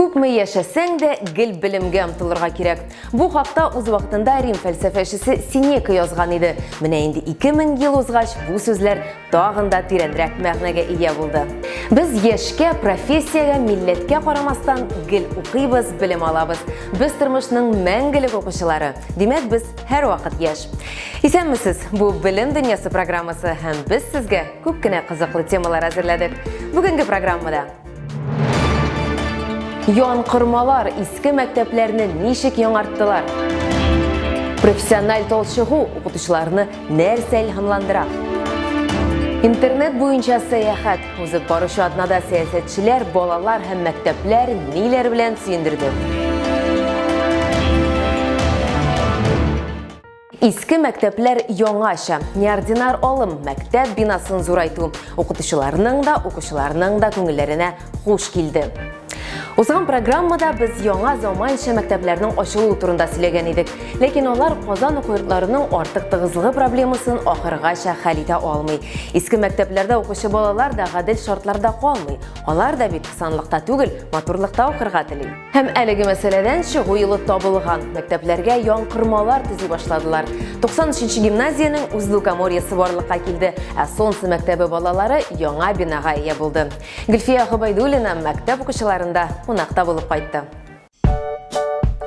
Күпме яшәсәң дә, гел белемгә омтылырга кирәк. Бу хакта үз вакытында Рим фәлсәфәчесе Синека язган иде. Менә инде 2000 ел узгач, бу сүзләр тагын да тирәнрәк мәгънәгә ия булды. Без яшькә, профессиягә, милләткә карамастан гел укыйбыз, белем алабыз. Без тормышның мәңгелек укучылары. Димәк, без һәрвакыт яшь. Исәнмесез! Бу Белем дөньясы программасы һәм без сезгә күп кенә кызыклы темалар әзерләдек. Бүгенге программада Ян кырмалар иске мәктәпләрне ничек яңарттылар? Профессиональ тол чыгу укытучыларны нәрсә илһамландыра? Интернет буенча сәяхәт узып баручы атнада сәясәтчеләр, балалар һәм мәктәпләр ниләр белән сөендерде? Иске мәктәпләр яңача, неординар алым, мәктәп бинасын зурайту укытучыларның да, укучыларның да күңелләренә хуш килде. Узган программада без яңа заманча мәктәпләрнең ачылуы турында сөйләгән идек, ләкин алар Казан уку йортларының артык тыгызлыгы проблемасын ахыргача хәл итә алмый. Иске мәктәпләрдә укучы балалар да гадел шартларда калмый. Алар да бит санлыкта түгел, матурлыкта укырга тели. Һәм әлеге мәсьәләдән чыгу юлы табылган. Мәктәпләргә яңкырмалар төзи башладылар. 93 гимназиянең үз лукоморьесы барлыкка килде, ә Солнце мәктәбе балалары яңа бинага ия булды. Гөлфия Гобайдуллина мәктәп укучыларында кунакта булып кайтты.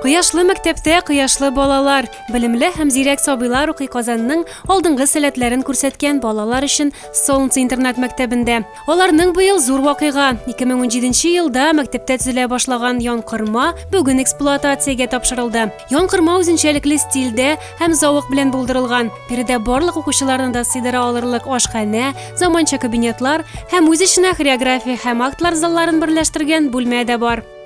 Кояшлы мәктәптә кояшлы балалар, белемле һәм зирәк сабыйлар укый Казанның алдынгы сәләтләрен күрсәткән балалар өчен Солнце интернат-мәктәбендә. Аларның быел зур вакыйга. 2017 елда мәктәптә төзелә башлаган янкырма бүген эксплуатациягә тапшырылды. Янкырма үзенчәлекле стильдә һәм зауык белән булдырылган. Биредә барлык укучыларны да сыйдыра алырлык ашханә, заманча кабинетлар һәм үз эченә хореография һәм актлар залларын берләштергән бүлмә дә бар.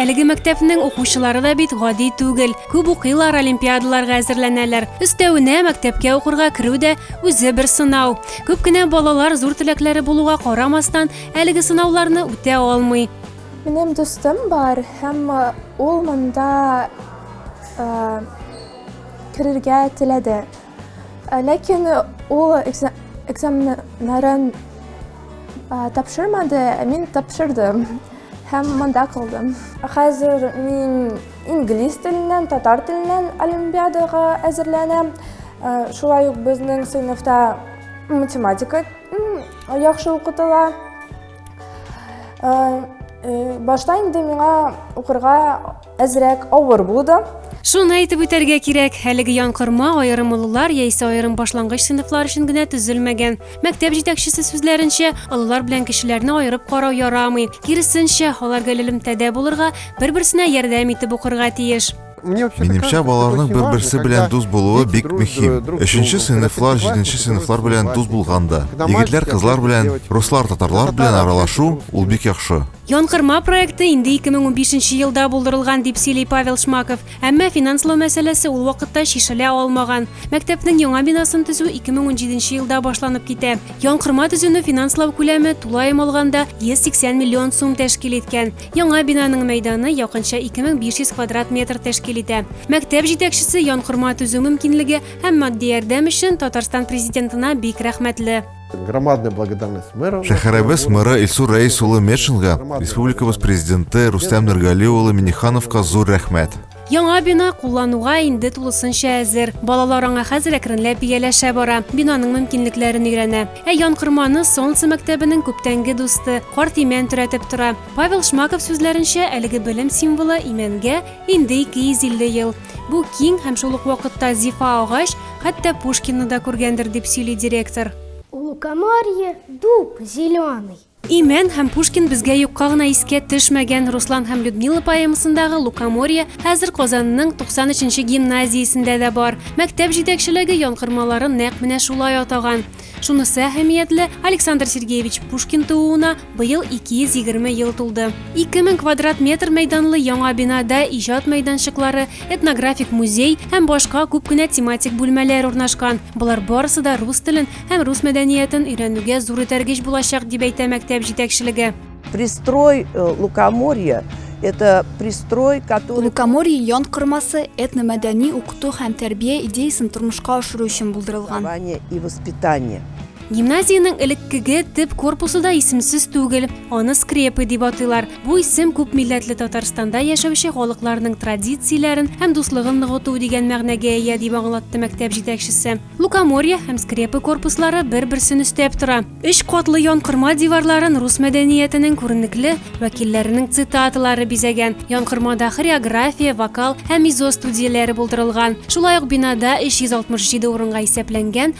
Әлеге мәктәпнең укучылары да бит гади түгел. Күп укыйлар, олимпиадаларга әзерләнәләр. Өстәвенә, мәктәпкә укырга керү дә үзе бер сынау. Күп кенә балалар зур теләкләре булуга карамастан, әлеге сынауларны үтә алмый. Минем дустым бар һәм ул монда керергә теләде. Ә, Ләкин ул экза- экзаменнарын а, тапшырмады, ә мин тапшырдым һәм монда калдым. Хәзер мин инглиз теленнән, татар теленнән олимпиадага әзерләнәм. Ә, Шулай ук безнең сыйныфта математика м, яхшы укытыла. Ә, э, Башта инде миңа укырга Әзрәк авыр булды. Шуны әйтеп үтәргә кирәк, әлеге янкырма аерым олылар яисә аерым башлангыч сыйныфлар өчен генә төзелмәгән. Мәктәп җитәкчесе сүзләренчә, олылар белән кешеләрне аерып карау ярамый. Киресенчә, алар гел элемтәдә булырга, бер-берсенә ярдәм итеп укырга тиеш. Минемчә, балаларның бер-берсе белән дус булуы бик мөһим. Өченче сыйныфлар җиденче сыйныфлар белән дус булганда, егетләр кызлар белән, руслар татарлар белән аралашу ул бик яхшы. Янкырма проекты инде 2015 елда булдырылган, дип сөйли Павел Шмаков. Әмма финанслау мәсьәләсе ул вакытта чишелә алмаган. Мәктәпнең яңа бинасын төзү 2017 елда башланып китә. Янкырма төзүне финанслау күләме, тулаем алганда, 180 миллион сум тәшкил иткән. Яңа бинаның мәйданы якынча 2500 квадрат метр тәшкил итә. Мәктәп җитәкчесе янкырма төзү мөмкинлеге һәм матди ярдәм өчен Татарстан Президентына бик рәхмәтле. Громадная благодарность мэру. Шәһәребез мэры Илсур Рәис улы Мешинга, республикабыз президенты Рустам Нургали улы Минихановка зур рәхмәт. Яңа бина куллануга инде тулысынча әзер. Балалар аңа хәзер әкренләп ияләшә бара, бинаның мөмкинлекләрен өйрәнә. Ә ян кырманы Солнце мәктәбенең күптәнге дусты, карт имән төрәтеп тора. Павел Шмаков сүзләренчә, әлеге белем символы имәнгә инде 250 ел. Бу киң һәм шул ук вакытта зифа агач, хәтта Пушкинны да күргәндер, дип сөйли директор. Лукоморье, дуб зеленый. Имән һәм Пушкин безгә юкка гына искә төшмәгән. Руслан һәм Людмила поэмасындагы Лукоморье хәзер Казанның 93 нче гимназиясендә дә бар. Мәктәп җитәкчелеге янкормаларын нәкъ менә шулай атаган. Шунысы әһәмиятле, Александр Сергеевич Пушкин тууына Быел 220 ел тулды. 2000 квадрат метр мәйданлы яңа бинада иҗат мәйданчыклары, этнографик музей һәм башка күп кенә тематик бүлмәләр урнашкан. Болар барысы да рус телен һәм рус мәдәниятен өйрәнүгә зур этәргеч булачак, дип әйтә мәктәп җитәкчелеге. Пристрой э, Лукоморья – это пристрой, который… Лукоморье ян кормасы этномәдәни укыту һәм тәрбия идеясын тормышка ашыру өчен булдырылган. и воспитание. Гимназиянең элеккеге төп корпусы да исемсез түгел. Аны скрепы дип атыйлар. Бу исем күп милләтле Татарстанда яшәүче халыкларның традицияләрен һәм дуслыгын ныгыту дигән мәгънәгә ия, дип аңлатты мәктәп җитәкчесе. Лукоморье һәм скрепы корпуслары бер-берсен өстәп тора. Өч катлы янкырма диварларын рус мәдәниятенең күренекле вәкилләренең цитаталары бизәгән. Янкырмада хореография, вокал һәм мизо студияләре булдырылган. Шулай ук бинада 367 урынга исәпләнгән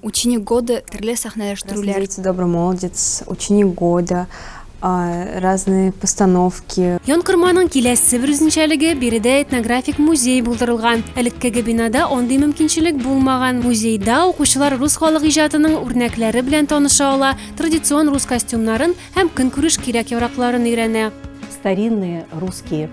Ученик года төрле сәхнәләштерүләр. Красный дети, добрый молодец, ученик года, разные постановки. Янкорманың киләсе бер үзенчәлеге, биредә этнографик музей булдырылган. Элеккеге бинада андый мөмкинчелек булмаган. Музейда укучылар рус халык иҗатының үрнәкләре белән таныша ала, традицион рус костюмнарын һәм көнкүреш кирәк-яракларын өйрәнә. Старинные русские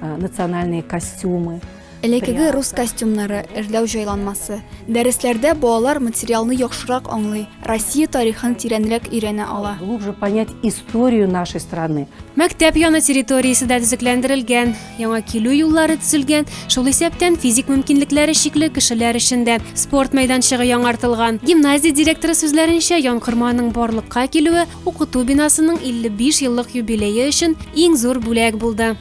национальные костюмы. Элекеге рус костюмнары, эрләү җайланмасы. Дәресләрдә балалар материалны яхшырак аңлый, Россия тарихын тирәнрәк өйрәнә ала. Глубже понять историю нашей страны. Мәктәп яны территориясе дә төзекләндерелгән, яңа килү юллары төзелгән, шул исәптән физик мөмкинлекләре чикле кешеләр өчен дә спорт мәйданчыгы яңартылган. Гимназия директоры сүзләренчә, Янкорманың барлыкка килүе укыту бинасының 55 еллык юбилее өчен иң зур бүләк булды.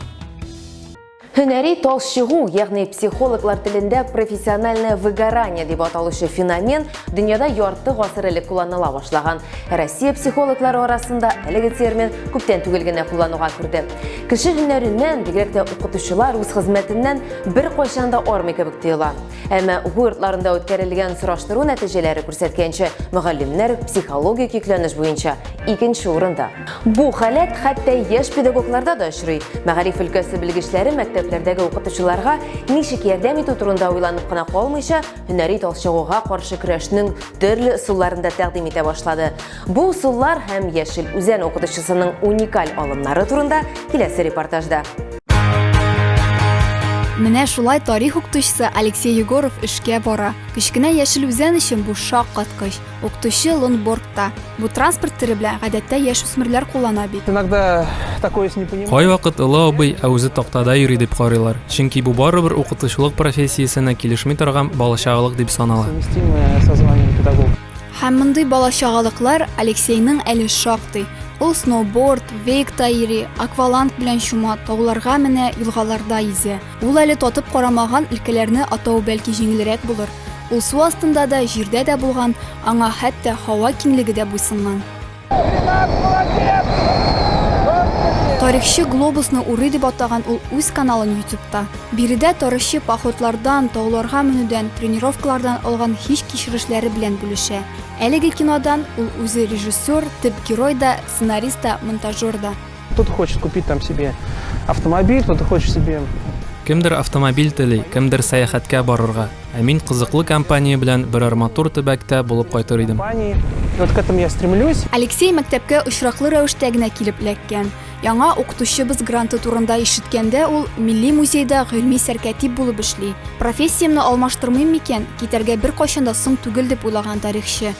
Һөнәри талчыгу, ягъни психологлар телендә профессиональное выгорание дип аталучы феномен дөньяда ярты гасыр элек кулланыла башлаган. Россия психологлары арасында әлеге термин күптән түгел генә куллануга керде. Кеше һөнәреннән, бигрәк тә укытучылар үз хезмәтеннән бер кайчан да армый кебек тоела. Әмма уку йортларында үткәрелгән сораштыру нәтиҗәләре күрсәткәнчә, мөгаллимнәр психологик йөкләнеш буенча икенче урында. Бу халәт хәтта яшь педагогларда да очрый. Мәгариф өлкәсе белгечләре мәктәпләрдәге укытучыларга ничек ярдәм итү турында уйланып кына калмыйча, һөнәри талчыгуга каршы көрәшнең төрле ысулларын да тәкъдим итә башлады. Бу усуллар һәм Яшел Үзән укытучысының уникаль алымнары турында киләсе репортажда. Менә шулай тарих укытучысы Алексей Егоров эшкә бара. Кечкенә яшел үзән өчен бу шаккаткыч. Укытучы лонбордта. Бу транспорт төре белән гадәттә яшүсмерләр куллана бит. Иногда такое не понимаю. Кайвакыт Ылы абый ә үзе тактада йөри дип карыйлар. Чөнки бу барыбер укытучылык профессиясенә килешми торган балачагылык дип санала. Совместимое со званием педагог. Һәм мондый балачагалыклар Алексейның әле шактый. Ул сноуборд, вейк та йөри, акваланг белән чума, тауларга менә, елгаларда йөзә. Ул әле татып карамаган өлкәләрне атау бәлки җиңелрәк булыр. Ул су астында да, җирдә дә булган, аңа хәтта һава киңлеге дә буйсынган. Тарихчы глобусны урый дип атаган ул үз каналын ютубта. Биредә тарихчы походлардан, тауларга менүдән, тренировкалардан алган хис кичерешләре белән бүлешә. Әлеге кинодан ул үзе режиссер, төп герой да, сценарист та, монтажер да. Кто-то хочет купить там себе автомобиль, кто-то хочет себе Кемдер автомобиль тели, кемдер сәяхәткә барырга. Ә мин кызыклы компания белән берәр матур төбәктә булып кайтыр идем. компании. И Вот к этому я стремлюсь. Алексей мәктәпкә очраклы рәвештә генә килеп эләккән. Яңа укытучыбыз гранты турында ишеткәндә ул Милли музейда гыйльми сәркәтип булып эшли. Профессиямне алмаштырмыйм микән, китәргә беркайчан да соң түгел дип уйлаган тарихчы.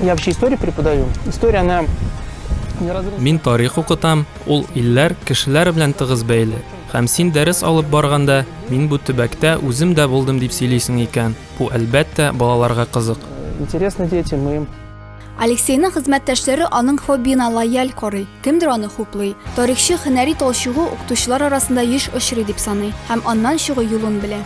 Я вообще историю преподаю. История, она Мин тарих укытам, ул илләр, кешеләр белән тыгыз бәйле. Һәм син дәрес алып барганда, мин бу төбәктә үзем дә булдым дип сөйлисең икән. Бу әлбәттә балаларга кызык. Интересно дети, мы Алексейның хезмәттәшләре аның хоббиына лояль карый, кемдер аны хуплый. Тарихчы һөнәри талчыгу укытучылар арасында еш очрый дип саный һәм аннан чыгу юлын белә.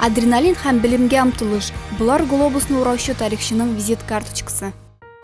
Адреналин һәм белемгә омтылыш, болар глобусны ураучы тарихчының визит карточкасы.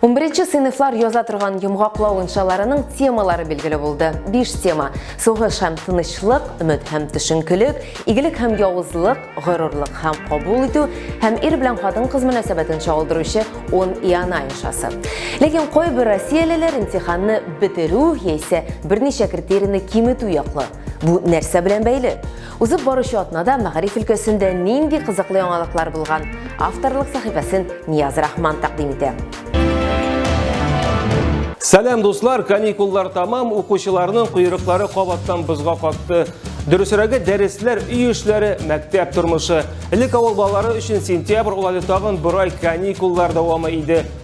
Унберенче сыйныфлар яза торган йомгаклау иншаларының темалары билгеле булды. Биш тема. Сугыш һәм тынычлык, өмет һәм төшенкелек, игелек һәм явызлык, горурлык һәм кабул итү һәм ир белән хатын-кыз мөнәсәбәтен чагылдыручы 10 иана иншасы. Ләкин кайбер россиялеләр имтиханны бетерү яисә берничә критерийны киметү яклы. Бу нәрсә белән бәйле? Узып баручы атнада мәгариф өлкәсендә нинди кызыклы яңалыклар булган? Авторлык сәхифәсен Нияз Рахман тәкъдим итә. Сәлам дуслар, каникуллар тамам, укучыларның куйрыклары кабаттан бозга катты. Дөресрәге дәресләр, өй эшләре, мәктәп тормышы. Элек авыл балалары өчен сентябрь улады тагын бер ай каникуллар дәвамы иде.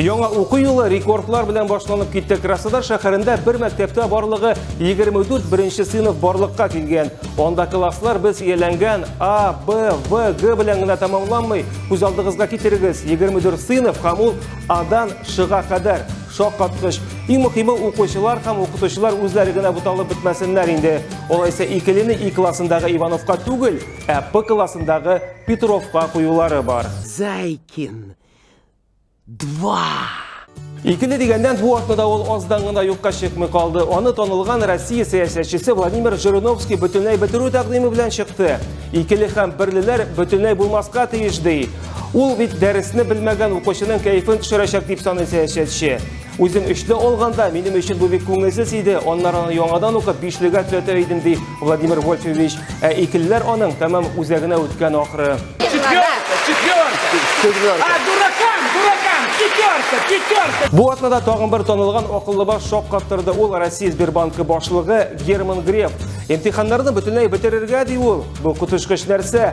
Яңа уку юлы рекордлар белән башланып китте. Краснодар шәһәрендә бер мәктәптә барлыгы 24 беренче сыйныф барлыкка килгән. Анда класслар без ияләнгән А, Б, В, Г белән генә тәмамланмый. Күз алдыгызга китерегез, 24 сыйныф һәм ул Адан Шга кадәр шаккаткыч. Иң мөхиме укучылар һәм укытучылар үзләре генә буталып бетмәсеннәр инде. Алайса икелене И классындагы Ивановка түгел, ә П классындагы Петровка куюлары бар. Зайкин Два! Икенде дигәндән бу атнада ул аздан гына юкка чыкмый калды. Аны танылган Россия сәясәтчесе Владимир Жириновский бөтенләй бетерү тәкъдиме белән чыкты. Икеле һәм берлеләр бөтенләй булмаска тиеш ди. Ул бит дәресне белмәгән укучының кәефен төшерәчәк дип саный сәясәтче. Үзем өчле алганда, минем өчен бу бик күңелсез иде, аннары аны яңадан укып, бишлегә төзәтә идем, ди Владимир Вольфович. Ә икелеләр аның тәмам үзәгенә үткән ахры. Четверка, четверка. А, дуракам, дуракам, четверка, четверка. Бу атнада тагын бер танылган акыллы баш шок каптырды. Ул Россия Сбербанкы башлыгы Герман Греф. Имтиханнарны бөтенләй бетерергә ди ул. Бу коточкыч нәрсә?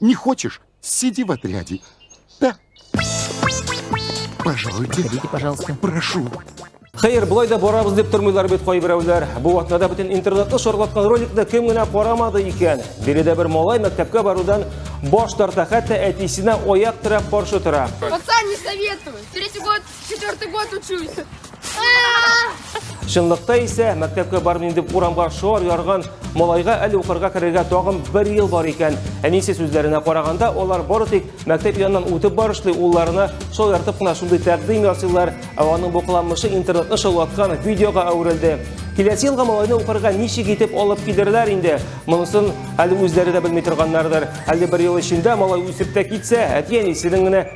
Не хочешь? Сиди в отряде. Да. Пожалуйте. Ходите, пожалуйста. Прошу. Хәер, болай да барабыз дип тормыйлар бит кайберәүләр. Бу вакытта бөтен интернетны шарлаткан роликны кем генә карамады икән. Биредә бер малай мәктәпкә барудан баш тарта, хәтта әтисенә аяк терәп каршы тора. Пацан, не советую. Третий год Четвертый год учусь. Чынлыкта исә мәктәпкә бармын инде урамга шор ярган малайга әле укырга керергә тагын бер ел бар икән. Әнисе сүзләренә караганда, олар бары тик мәктәп яныннан үтеп барышлый улларына шул яртып кына шундый тәкъдим ясыйлар, ә аның бу кыланмышы интернетны шаулаткан видеога әверелде. Киләсе елга малайны укырга ничек итеп алып кидерләр инде? Монысын әле үзләре дә белми торганнардыр. Әле бер ел эчендә малай үсеп тә китсә, әти-әнисенең генә